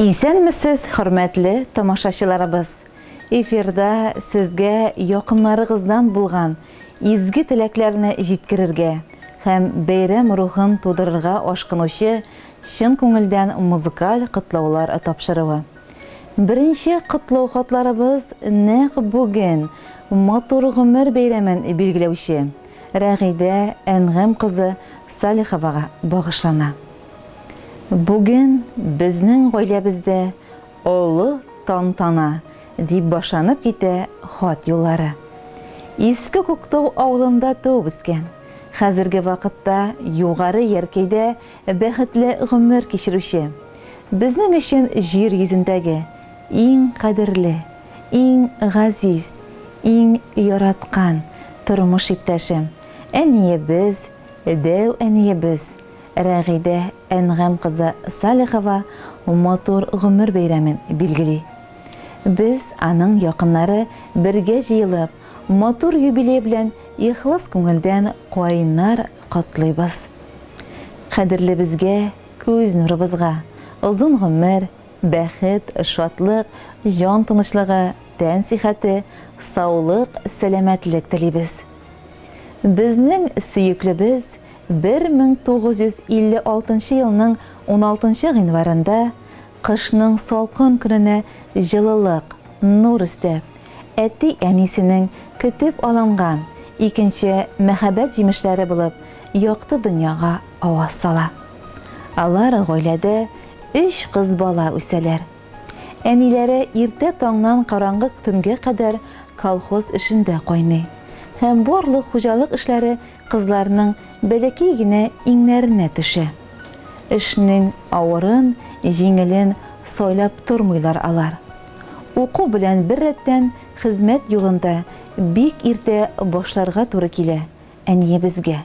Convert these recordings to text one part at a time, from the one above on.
Исәнмесез, хөрмәтле тамашачыларыбыз! Эфирда сезгә якыннарыгыздан булган изге теләкләрне җиткерергә һәм бәйрәм рухын тудырырга ашкынучы чын күңелдән музыкаль котлаулар тапшыруы. Беренче котлау хатларыбыз нәкъ бүген Матур гомер бәйрәмен билгеләүче Рәгыйдә Әнгам кызы Салиховага багышлана. Бүген безнең гаиләбездә олы тантана, дип башланып китә хат юллары. Иске Күктау авылында туып үскән, хәзерге вакытта Югары Яркәйдә бәхетле гомер кичерүче, безнең өчен җир йөзендәге иң кадерле, иң газиз, иң яраткан тормыш иптәшем, әниебез, дәү әниебез, Рәгыйдә Әнгам кызы Салихова матур гомер бәйрәмен билгели. Без, аның якыннары бергә җыелып, матур юбилей белән ихлас күңелдән кайнар котлыйбыз. Кадерлебезгә, күз нурыбызга озын гомер, бәхет, шатлык, җан тынычлыгы, тән сихәте, саулык, сәламәтлек телибез. Безнең сөеклебез 1956 нчы елның 16 нчы гыйнварында, кышның салкын көненә җылылык, нур өстәп, әти-әнисенең көтеп алынган икенче мәхәббәт җимешләре булып якты дөньяга аваз сала. Алар гаиләдә өч кыз бала үсәләр. Әниләре иртә таңнан караңгы төнгә кадәр колхоз эшендә кайный һәм барлык хуҗалык эшләре Кызларның бәләкәй генә иңнәренә төшә. Эшнең авырын, җиңелен сайлап тормыйлар алар. Уку белән беррәттән хезмәт юлын да бик иртә башларга туры килә әниебезгә.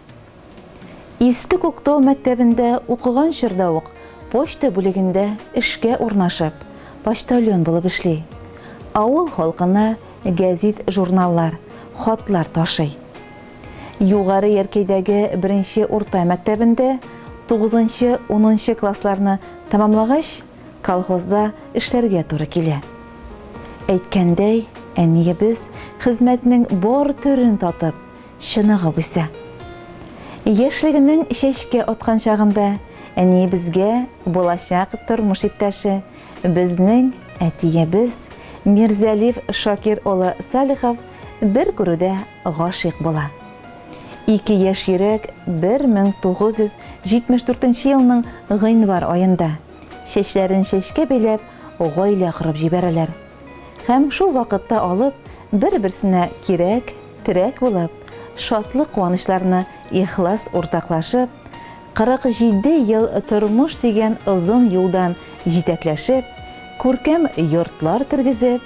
Иске Күктау мәктәбендә укыган чорда ук почта бүлегендә эшкә урнашып, почтальон булып эшли. Авыл халкына гәзит-журналлар, хатлар ташый. Югары Яркәйдәге беренче урта мәктәбендә тугызынчы, унынчы классларны тәмамлагач, колхозда эшләргә туры килә. Әйткәндәй, әниебез хезмәтнең бар төрен татып, чыныгып үсә. Яшьлегенең чәчкә аткан чагында әниебезгә булачак тормыш иптәше, безнең әтиебез Мирзәлиф Шакир улы Салихов бер күрүдә гашыйк була. Ике яшь йөрәк 1974 елның гыйнвар аенда, чәчләрен чәчкә бәйләп, гаилә корып җибәрәләр. Һәм шул вакытта алып, бер-берсенә кирәк, терәк булып, шатлык-куанычларны ихлас уртаклашып, 47 ел тормыш дигән озын юлдан җитәкләшеп, күркәм йортлар тергезеп,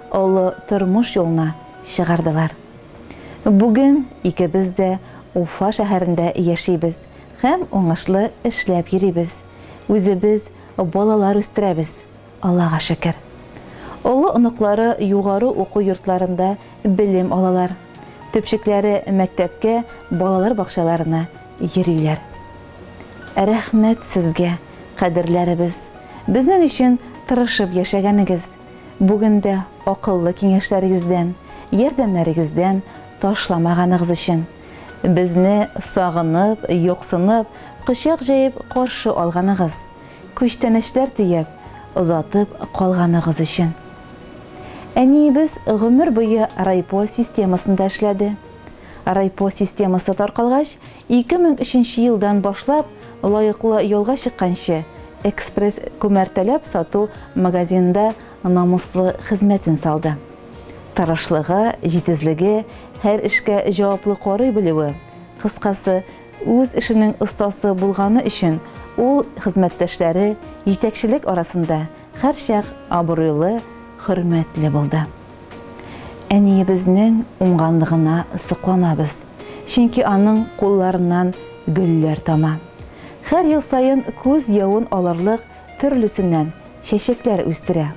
Олы тормыш юлына чыгардылар. Бүген икебез дә Уфа шәһәрендә яшибез һәм уңышлы эшләп йөрибез, үзебез балалар үстерәбез, Аллага шөкер. Олы оныклары югары уку йортларында белем алалар, төпчекләре мәктәпкә, балалар бакчаларына йөриләр. Рәхмәт сезгә, кадерләребез, безнең өчен тырышып яшәгәнегез! Бүген дә акыллы киңәшләрегездән, ярдәмнәрегездән ташламаганыгыз өчен, безне сагынып, юксынып, кочак җәеп каршы алганыгыз, күчтәнәчләр төяп, озатып калганыгыз өчен. Әниебез гомер буе райпо системасында эшләде. Райпо системасы таркалгач, Ике мең өченче елдан башлап лаеклы ялга чыкканчы, Экспресс күмәртәләп сату магазинында намуслы хезмәтен салды. Тырышлыгы, җитезлеге, һәр эшкә җаваплы карый белүе, кыскасы, үз эшенең остасы булганы өчен ул хезмәттәшләре, җитәкчелек арасында һәрчак абруйлы, хөрмәтле булды. Әниебезнең уңганлыгына сокланабыз, чөнки аның кулларыннан гөлләр тама. Хәр ел саен күз явын алырлык төрлесеннән чәчәкләр үстерә.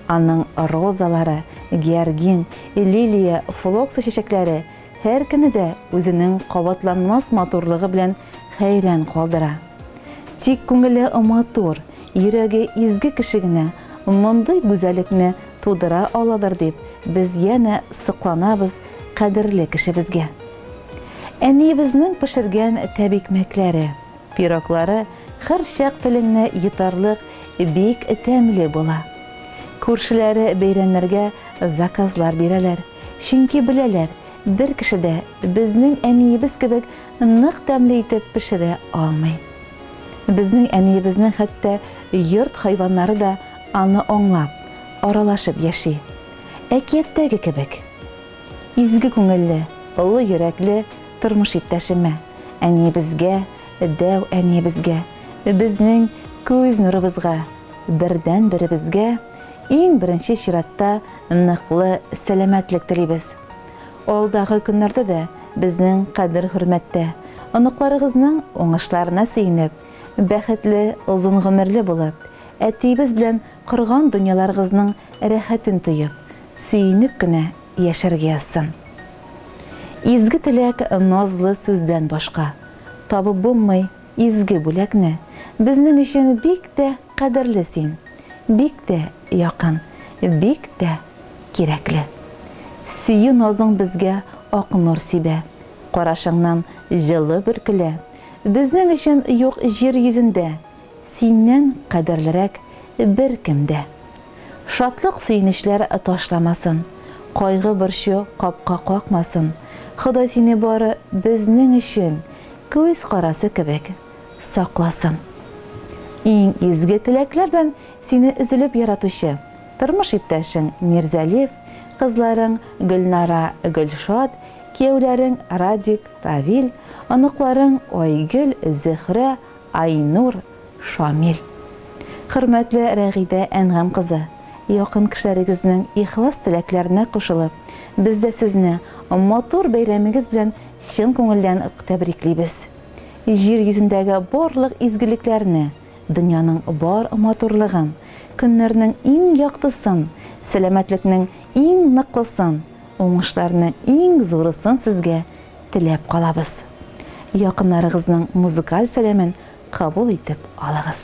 Аның розалары, георгин, лилия, флокса чәчәкләре һәркемне дә үзенең кабатланмас матурлыгы белән хәйран калдыра. Тик күңеле матур, йөрәге изге кеше генә мондый гүзәлекне тудыра аладыр дип, без янә сокланабыз кадерле кешебезгә. Әниебезнең пешергән тәбикмәкләре, пироглары һәрчак телеңне йотарлык бик тәмле була. Күршеләре бәйрәмнәргә заказлар бирәләр, чөнки беләләр, бер кеше дә безнең әниебез кебек Нык тәмле итеп пешерә алмый. Безнең әниебезнең хәтта йорт хайваннары да аны аңлап, аралашып яши. Әкияттәге кебек. Изге күңелле, олы йөрәкле тормыш иптәшемә, әниебезгә, дәү әниебезгә, безнең күз нурыбызга, бердәнберебезгә иң беренче чиратта ныклы сәламәтлек телибез. Алдагы көннәрдә дә безнең кадер-хөрмәттә, оныкларыгызның уңышларына сөенеп, бәхетле, озын гомерле булып, әтиебез белән корган дөньяларыгызның рәхәтен тоеп, сөенеп кенә яшәргә язсын. Изге теләк, назлы сүздән башка, табып булмый изге бүләкне, безнең өчен бик тә Кадерле син, бик тә якын, бик тә кирәкле. Сөю назың безгә ак нур сибә, карашыңнан җылы бөркелә. Безнең өчен юк җир йөзендә, синнән кадерлерәк беркем дә. Шатлык сөенечләр ташламасын, кайгы-борчу капка какмасын, Ходай сине бары безнең өчен күз карасы кебек. сакласын. Иң изге теләкләр белән сине өзелеп яратучы тормыш иптәшең Мирзәлиф, кызларың Гөлнара, Гөлшат, кияүләрең Радик, Равил, оныкларың Айгөл, Зөһрә, Айнур, Шамил. Хөрмәтле Рәгыйдә Әнгам кызы, якын кешеләрегезнең ихлас теләкләренә кушылып, без дә сезне матур бәйрәмегез белән чын күңелдән тәбриклибез. Җир йөзендәге барлык изгелекләрне, дөньяның бар матурлыгын, көннәрнең иң яктысын, сәламәтлекнең иң ныклысын, уңышларның иң зурысын сезгә теләп калабыз. Якыннарыгызның музыкаль сәламен кабул итеп алыгыз.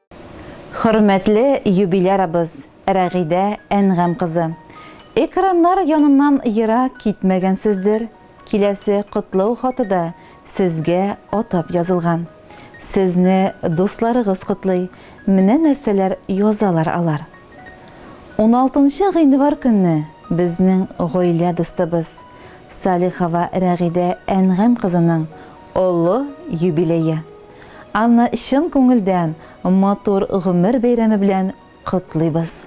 Хөрмәтле юбилярыбыз Рәгыйдә Әнгам кызы! Экраннар яныннан ерак китмәгәнсездер, киләсе котлау хаты да сезгә атап язылган. Сезне дусларыгыз котлый, менә нәрсәләр язалар алар. Уналтынчы гыйнвар көнне безнең гаилә дустыбыз, Салихова Рәгыйдә Әнгам кызының олы юбилее. Анны чын күңелдән матур гомер бәйрәме белән котлыйбыз.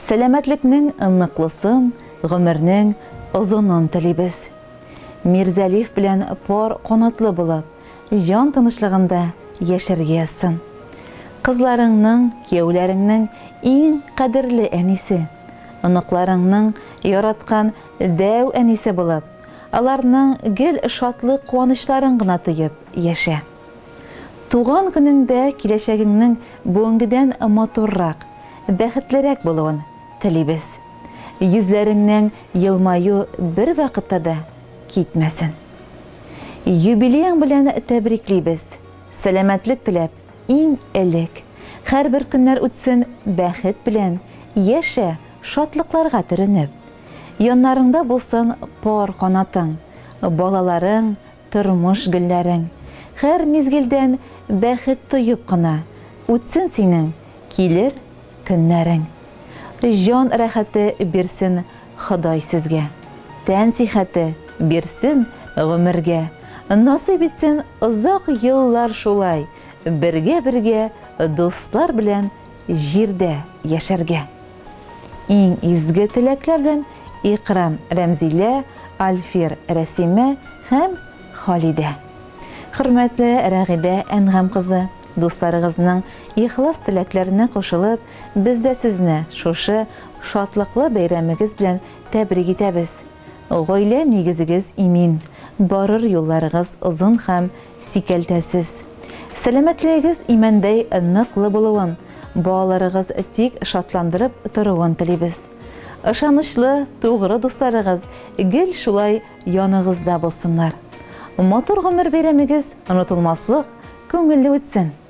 Сәламәтлекнең ныклысын, гомернең озынын телибез. Мирзәлиф белән пар канатлы булып, җан тынычлыгында яшәргә язсын. Кызларыңның, кияүләреңнең иң кадерле әнисе, оныкларыңның яраткан дәү әнисе булып, аларның гел шатлык-куанычларын гына тоеп яшә. Туган көнеңдә киләчәгеңнең бүгенгедән матуррак, бәхетлерәк булуын телибез. Йөзләреңнең елмаю бервакытта да китмәсен. Юбилеең белән тәбриклибез, сәламәтлек теләп, иң элек. Һәрбер көннәр үтсен бәхет белән, яшә, шатлыкларга төренеп. Яннарыңда булсын пар канатың, Балаларың, тормыш гөлләрең. Хәр мизгелдән бәхет тоеп кына, Үтсен синең килер көннәрең. Җан рәхәте бирсен Ходай сезгә, Тән сихәте бирсен гомергә, Насыйп итсен озак еллар шулай Бергә-бергә дуслар белән Җирдә яшәргә. Иң изге теләкләр белән Икрам, Рәмзилә, Альфир, Рәсимә һәм Халидә. Хөрмәтле Рәгыйдә Әнгам кызы, дусларыгызның ихлас теләкләренә кушылып, без дә сезне шушы шатлыклы бәйрәмегез белән тәбрик итәбез. Гаилә нигезегез имин, барыр юлларыгыз озын һәм Сикәлтәсез. Сәламәтлегегез имәндәй ныклы булуын, балаларыгыз тик шатландырып торуын телибез. Ышанычлы, тугры дусларыгыз гел шулай яныгызда булсыннар. Матур гомер бәйрәмегез онытылмаслык, күңелле үтсен!